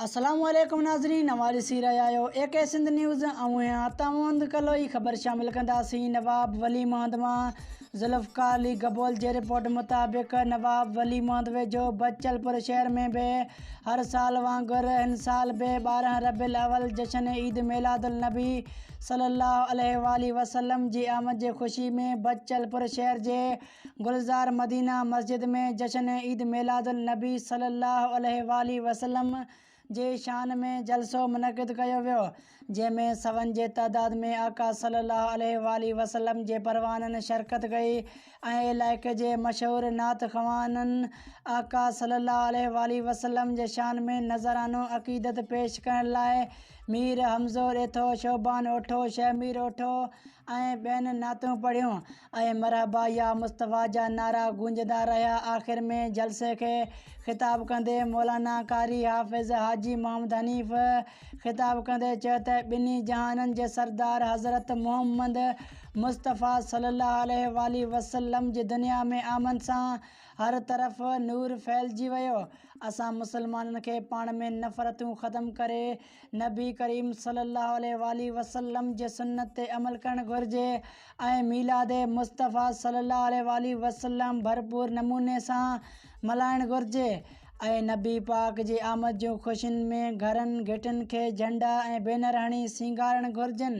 السلام عليڪم ناظرين اوهان ڏسي رهيا آهيو اي ڪي سنڌ نيوز اوهين هان تاوند ڪلوئي خبر شامل ڪنداسين نواب ولي محمد مان ذوالفقار علي گبول جي رپورٽ مطابق نواب ولي محمد ويجهو بچل پور شهر ۾ به هر سال وانگر هن سال به ٻارهن ربيع الاول جشن عيد ميلاد النبي صلي الله عليه واٰله وسلم جي آمد جي خوشي ۾ بچل پور شهر جي گلزار مدينه مسجد ۾ جشن عيد ميلاد النبي صلي الله عليه واٰله وسلم جي شان ۾ جلسو منعقد ڪيو ويو جنهن ۾ سون جي تعداد ۾ آقا صلي الله عليه واٰله وسلم جي پروانن شرڪت ڪئي ۽ علائقي جي مشهور نعت خوانن آقا صلي الله عليه واٰله وسلم جي شان ۾ نذرانو عقيدت پيش ڪرڻ لاء مير حمزو ڏيٿو، شعبان اوٺو، شيخ مير اوٺو ۽ ٻين نعتون پڙهيون ۽ مرحبا يا مصطفيٰ جا نعرا گونجندا رهيا آخر ۾ جلسي کي خطاب ڪندي مولانا قاري حافظ حاجي محمد حنيف خطاب ڪندي چيو ته ٻنهي جهانن جي سردار حضرت محمد مصطفيٰ صلي الله عليه واٰله وسلم جي دنيا ۾ آمد سان هر طرف نور ڦهلجي ويو. اسان مسلمانن کي پاڻ ۾ نفرتون ختم ڪري نبي ڪريم صلي الله عليه واٰله وسلم جي سنت تي عمل ڪرڻ گهرجي ۽ ميلاد مصطفيٰ صلي الله عليه واٰله وسلم ڀرپور نموني سان ملهائڻ گهرجي ۽ نبي پاڪ جي آمد جون خوشين ۾ گهرن گهٽين کي جهنڊا ۽ بينر هڻي سينگارڻ گهرجن.